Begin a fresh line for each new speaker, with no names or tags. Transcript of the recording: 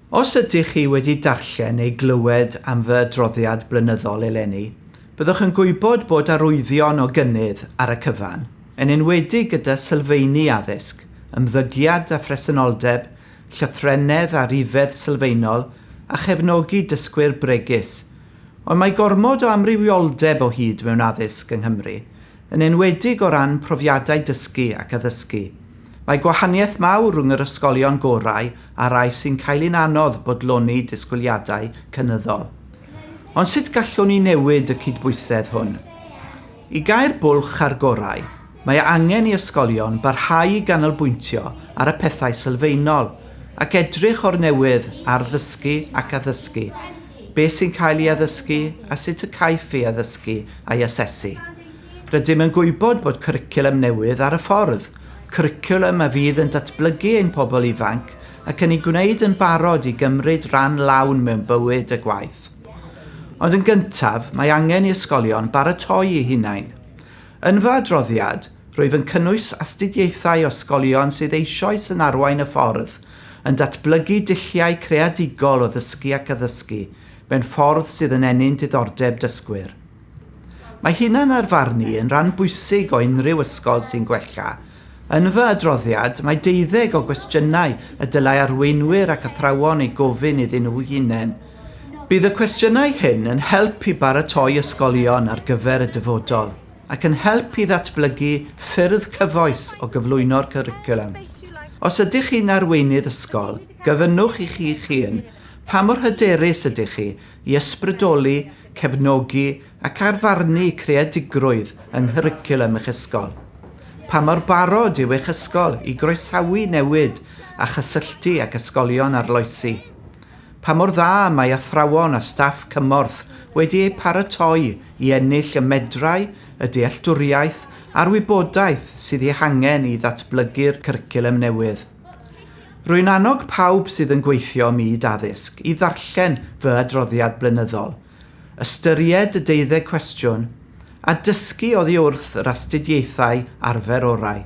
Os ydych chi wedi darllen neu glywed am fy adroddiad blynyddol eleni, byddwch yn gwybod bod arwyddion o gynnydd ar y cyfan, yn enwedig gyda sylfeini addysg, ymddygiad a phresenoldeb llythrennedd a rhifedd sylfaenol a chefnogi dysgwyr bregus, ond mae gormod o amrywioldeb o hyd mewn addysg yng Nghymru, yn enwedig o ran profiadau dysgu ac addysgu. Mae gwahaniaeth mawr rhwng yr ysgolion gorau a'r rhai sy'n cael un anodd bodloni disgwyliadau cynyddol. Ond sut gallwn ni newid y cydbwysedd hwn? I gau'r bwlch a'r gorau, mae angen i ysgolion barhau i ganolbwyntio ar y pethau sylfaenol ac edrych o'r newydd ar ddysgu ac addysgu, beth sy'n cael ei addysgu a sut y caiff ei addysgu a'i asesu. Rydym yn gwybod bod cwricwlwm newydd ar y ffordd, cwricwlwm a fydd yn datblygu ein pobl ifanc ac yn eu gwneud yn barod i gymryd rhan lawn mewn bywyd a gwaith. Ond yn gyntaf, mae angen i ysgolion baratoi eu hunain. Yn fy adroddiad, rwyf yn cynnwys astudiaethau o ysgolion sydd eisoes yn arwain y ffordd, yn datblygu dulliau creadigol o ddysgu ac addysgu mewn ffordd sydd yn ennyn diddordeb dysgwyr. Mae hunan-arfarnu yn ran bwysig o unrhyw ysgol sy'n gwella Yn fy adroddiad, mae deuddeg o gwestiynau y dylai arweinwyr ac athrawon eu gofyn iddyn nhw'u hunain. Bydd y cwestiynau hyn yn help i baratoi ysgolion ar gyfer y dyfodol, ac yn help i ddatblygu ffyrdd cyfoes o gyflwyno'r cwricwlwm. Os ydych chi'n arweinydd ysgol, gofynnwch i chi'ch hun, pa mor hyderus ydych chi i ysbrydoli, cefnogi ac ar farnu creadigrwydd yng nghwricwlwm eich ysgol. Pa mor barod yw eich ysgol i groesawu newid a chysylltu ag ysgolion arloesi? Pa mor dda mae athrawon a staff cymorth wedi eu paratoi i ennill y medrau, y dealltwriaeth a'r wybodaeth sydd eu hangen i ddatblygu'r cwricwlwm newydd? Rwy'n annog pawb sydd yn gweithio ym myd addysg i ddarllen fy adroddiad blynyddol Ystyried y deuddeg cwestiwn a dysgu oddi wrth yr astudiaethau arfer orau.